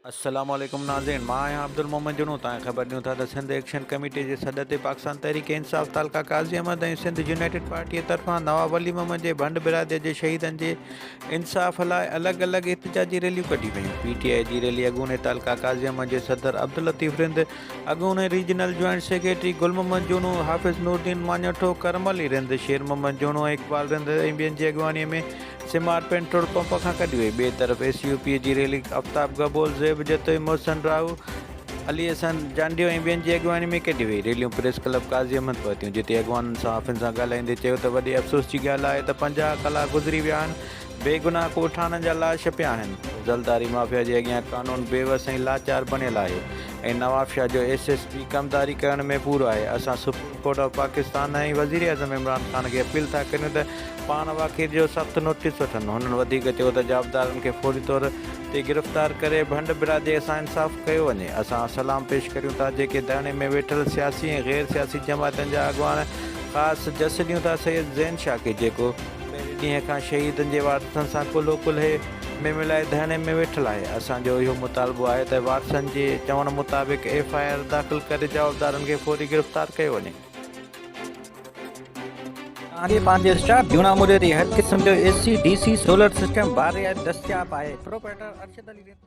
السلام عليڪم ناظرين مان آهيان عبدالمومن جنون تائين خبر ڏيون ٿا ته سنڌ ايڪشن ڪميٽي جي سڏ تي پاڪستان تحريڪ انصاف تعلقه قاضي احمد ۽ سنڌ يونائيٽيڊ پارٽي طرفان نواب ولي محمد جي ڀنڊ برادري جي شهيدن جي انصاف لاء الڳ الڳ احتجاجي ريليون ڪڍيون ويون پي ٽي آء جي ريلي اڳوڻي تعلقه قاضي احمد جي صدر عبداللطيف رند اڳوڻي regional joint secretary Gul Muhammad جوڻو، حافظ نورالدين ماڃاٺو، ڪرم علي رند، شير محمد جوڻو ۽ اقبال رند ۽ ٻين جي اڳواڻي ۾ سيمار پينٽرول پمپ کان ڪڍي وئي. ٻئي طرف اي سي او پي جي ريلي آفتاب گهبول، زيب جتوئي، محسن راهو، علي احسن جانڊيو ۽ ٻين جي اڳواڻي ۾ ڪڍي وئي. ريليون پريس ڪلب قاضي احمد پهتيون جتي اڳواڻن صحافين سان ڳالهائيندي چيو ته وڏي افسوس جي ڳالهه آهي ته پنجاهه ڪلاڪ گذري ويا آهن بيگناهه ڳوٺاڻن جا لاش پيا آهن، زلداري مافيا جي اڳيان قانون بيوس ۽ لاچار بڻيل آهي ۽ نوابشاهه جو ايس ايس پي ڪمداري ڪرڻ ۾ پورو آهي، اسان سپريم ڪورٽ آف پاڪستان ۽ وزيراعظم عمران خان کي اپيل ٿا ڪريون ته پاڻ واقعي جو سخت نوٽيس وٺن، هنن وڌيڪ چيو ته جوابدارن کي فوري طور تي گرفتار ڪري ڀنڊ برادري سان انصاف ڪيو وڃي، اسان سلام پيش ڪريون ٿا جيڪي ڌرڻي ۾ ويٺل سياسي ۽ غير سياسي جماعتن جا اڳواڻ خاص جسٽ ڏيون ٿا سيد زين شاڪر جيڪو پهرين ڏينهن کان شهيدن جي وارثن سان ڪلهو ڪلهي ۾ ملائي ڌرڻي ۾ ويٺل آهي، اسان جو اهو مطالبو آهي ته وارثن جي چوڻ مطابق ايف آء آر داخل ڪري جوابدارن کي فوري گرفتار ڪيو وڃي. ڪهاڻي پنهنجي اسٽار جونا موريء تي هر قسم جو A C, D C, solar system باري آهي دستياب آهي پروپرائيٽر ارشد علي ريتو.